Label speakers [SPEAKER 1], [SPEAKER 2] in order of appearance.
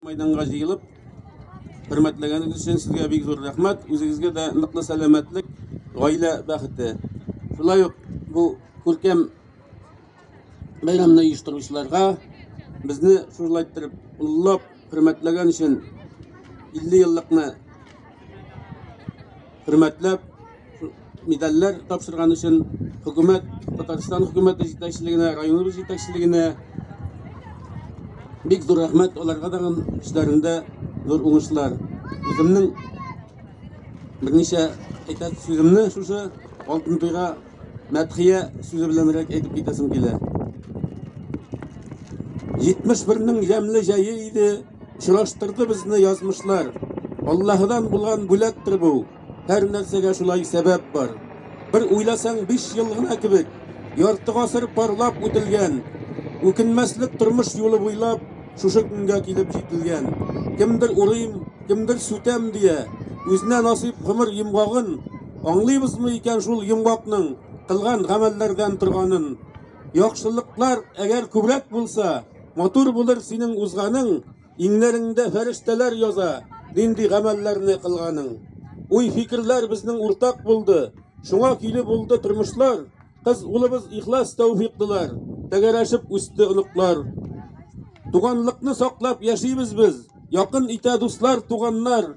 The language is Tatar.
[SPEAKER 1] Мәйданга җыелып, хөрмәтләгәнегез өчен сезгә бик зур рәхмәт. Үзегезгә дә ныклы сәламәтлек, гаилә бәхете. Шулай ук бу күркәм бәйрәмне оештыручыларга безне шулай иттереп уллап, хөрмәтләгән өчен 50 еллыкны хөрмәтләп, медальләр тапшырган өчен хөкүмәт, Татарстан хөкүмәте җитәкчелегенә, районыбыз җитәкчелегенә бик зур рәхмәт аларга да эшләрендә зур уңышлар. Үземнең берничә әйтәсе сүземне шушы алтын туйга мәдхия сүзе беләнрәк әйтеп китәсем килә. 71-нең ямьле җае иде, очраштырды безне язмышлар. Аллаһыдан булган бүләктер бу. Һәр нәрсәгә шулай сәбәп бар. Бер уйласаң, 5 ел гына кебек, ярты гасыр парлап үтелгән, үкенмәслек тормыш юлы буйлап шушы көнгә килеп җителгән. Кемдер урыйм, кемдер сүтәм дия, үзенә насыйп гомер йомгагын Аңлыйбызмы икән шул йомгакның кылган гамәлләрдән торганын? Яхшылыклар әгәр күбрәк булса, матур булыр синең узганың, иңнәреңдә фәрештәләр яза, нинди гамәлләрне кылганың. Уй-фикерләр безнең уртак булды, шуңа көйле булды тормышлар, кыз улыбыз ихлас тәүфиклылар, тәгәрәшеп үсте оныклар. Туганлыкны саклап яшибез без, якын итә дуслар, туганнар.